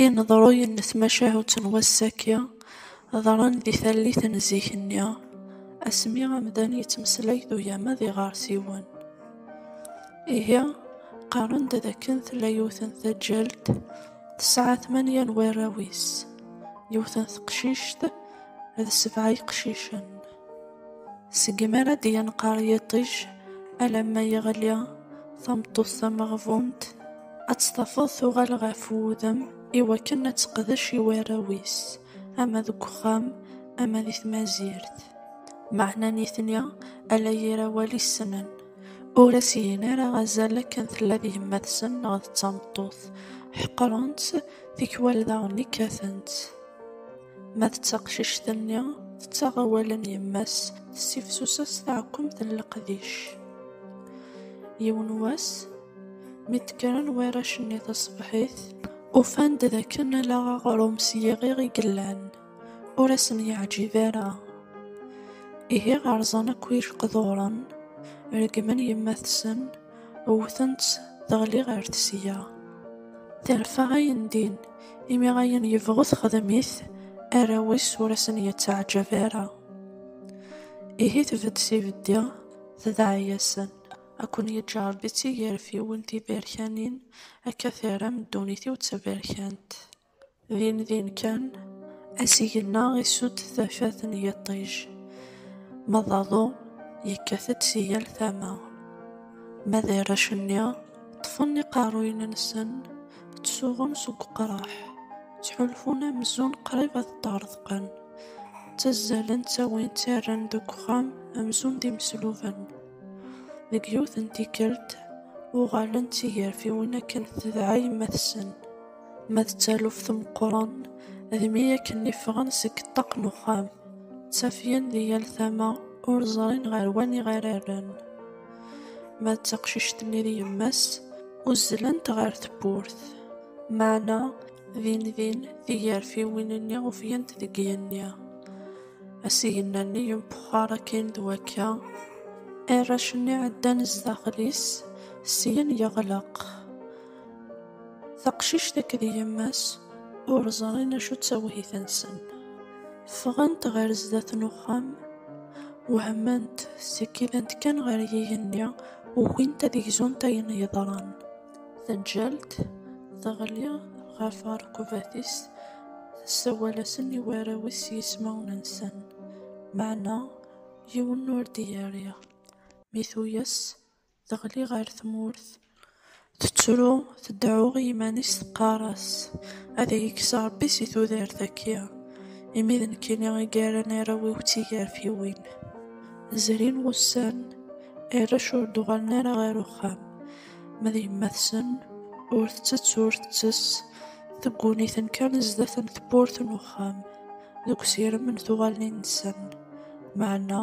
Ineḍruyen n tmacahut n wass-agi ḍran di tallit n zik-nni, asmi amdan yettmeslay d ugama d iɣersiwen. Ihi, qqaren-d d akken tella yiwet n taǧǧalt tesɛa tmanya n warraw-is, yiwet n teqcict d sebɛa yeqcicen. Segmi ara d-yenqer yiṭij alamma yeɣli, tameṭṭut tameɣbunt ad tt-tafeḍ tuɣal ɣef wudem i wakken ad teqdec i warraw-is, ama deg uxxam ama di tmazirt. Meɛna nitni ala yir awal i ssnen, ur as-gin ara azal akken tella d yemma-tsen neɣ d tameṭṭut, ḥeqren-tt, tikwal daɣen kkaten-tt. Ma d taqcict-nni, tettaɣ awal n yemma-s, tessifsus-as taɛkemt n leqdic. Yiwen wass, mi d-kkren warrac-nni taṣebḥit, ufan-d d akken ala aɣrum s yiɣiɣ i yellan, ur asen-yeɛǧib ara. Ihi rẓan akk ijeqduren, reggmen yemma-tsen, wwten-tt teɣli ɣer tesya. Terfa ayen din, imi ayen yebɣu texdem-it, arraw-is ur asen-yettaɛǧab ara. Ihi tbedd s ibeddi, tedɛa-yasen, ad ken-yeǧǧ Rebbi d tigerfiwin tiberkanin, akka terram ddunit-iw d taberkant. Din din kan, asigenna isudd tafat n yiṭij, ma d aḍu yekkat-d si yal tama. Ma d arrac-nni, ṭṭfen iqerruyen-nsen, ttsuɣun seg uqraḥ, ttḥulfun amzun qrib ad ṭṭerḍqen, ttazzalen ttawin ttarran deg uxxam amzun d imesluben. Deg yiwet n tikkelt, uɣalen d tigerfiwin akken tedɛa yemma-tsen. Ma d taluft meqqren, d mi akken iffɣen seg ṭṭaq n uxxam, ttafgen di yal tama, ur ẓrin ɣer waniɣ ara rren. Ma d taqcict-nni d yemma-s, uzzlent ɣer tewwurt. Meɛna, din din, tigarfiwin-nni ufgent deg yigenni. Asigna-nni yempuxxar akkin d wakka, arrac-nni ɛeddan zdaxel-is, syin yeɣleq. Taqcict akked yemma-s ur ẓrin acu d tawhit-nsen. Ffɣent ɣer sdat n uxxam, wehment, skiddent kan ɣer yigenni, ugint ad gzunt ayen yeḍran. Taǧǧalt teɣli ɣef rrekubat-is, tessawal-asen i warraw-is s yismawen-nsen, meɛna yiwen ur d-yerri. Mi tuyes, Teɣli ɣer tmurt, tettru, tdeɛɛu i yiman-is teqqar-as, Ad iyi-kkes Ṛebbi si tudert-agi, imi d nekkini i yerran arraw-iw d tigarfiwin. Zrin wussan, arrac ur d-uɣalen ara ɣer uxxam, ma d yemma-tsen, ur tettett ur tettess, tegguni-ten kan zdat n tewwurt n uxxam, deg usirem n tuɣalin-nsen, meɛna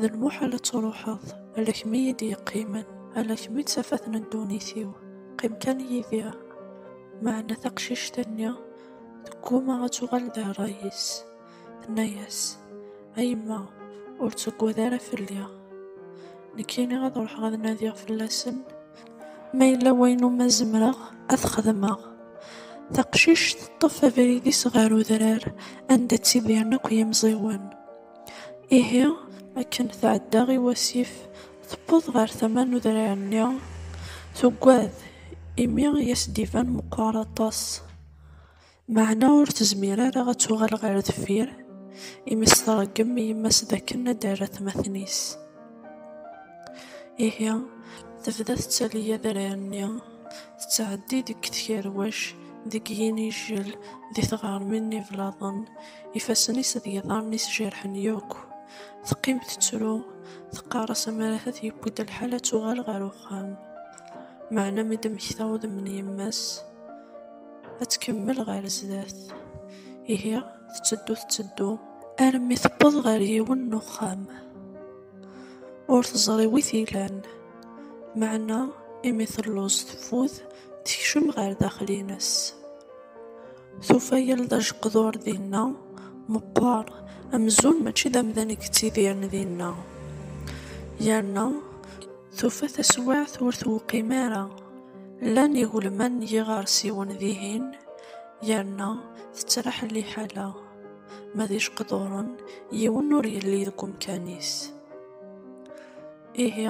D lmuḥal ad truḥeḍ, ala kemm i yi-d-yeqqimen, ala kemm i d tafat n ddunit-iw, qqim kan yid-i. Meɛna taqcict-nni tegguma ad tuɣal d rray-is, tenna-yas, A yemma, ur ttuggad ara fell-i. Nekkini ad ruḥeɣ ad nadiɣ fell-asen, ma yella wayen umi zemreɣ ad t-xedmeɣ. Taqcict teṭṭef abrid-is ɣer udrar anda ttidiren akk yimẓiwen. Ihi, akken tɛedda i wasif, tewweḍ ɣer tama n udrar-nni, tuggad, imi i as-d-iban meqqer aṭas, meɛna ur tezmir ara ad tuɣal ɣer deffir, imi s-tṛeggem i yemma-s d akken ad d-terr atmaten-is. Ihi, tebda tettali adrar-nni, tettɛeddi deg tkerwac, deg yinijel, di tɣermin n iblaḍen, Ifassen-is d yiḍarren-is jerḥen yakk. Teqqim tettru, teqqar-as amar ahat yewwi-d lḥal ad tuɣal ɣer uxxam. Meɛna mi d-temmekta udem n yemma-s, ad tkemmel ɣer sdat. Ihi tetteddu tetteddu armi tewweḍ ɣer yiwen n uxxam. Ur teẓri wi t-ilan, meɛna imi telluẓ teffud tekcem ɣer daxel-ines. Tufa yal d ajqdur dinna meqqer, amzun mačči d amdan i yettidiren dinna. Yerna tufa taswiɛt ur tewqim ara, llan igelman n yiɣersiwen dihin, yerna tettraḥ liḥala, ma d ijqduren yiwen ur yelli deg umkan-is. Ihi,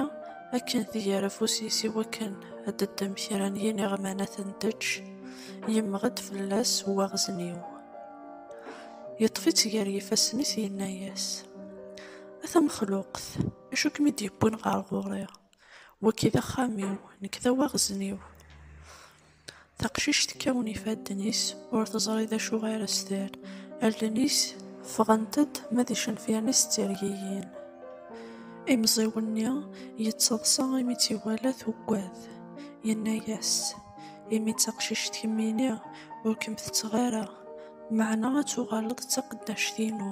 akken tger afus-is i wakken ad d-teddem kra n yiniɣman ad ten-teǧǧ, yemmeɣ-d fell-as waɣzen-iw. Yeṭṭef-itt gar yifassen-is yenna-yas, A tamexluqt, acu kem-id-yewwin ɣer ɣur-i? Wagi d axxam-iw, nekk d awaɣzen-iw. Taqcict tekkawen ifadden-is, ur teẓri d acu ara s-terr. Allen-is ffɣent-d, ma d icenfiren-is ttergigin. Imẓiw-nni yettaḍsa imi tt-iwala tuggad. Yenna-yas, Imi d taqcict kemmini, ur kem-tetteɣ ara, meɛna ad tuɣaleḍ d taqeddact-inu.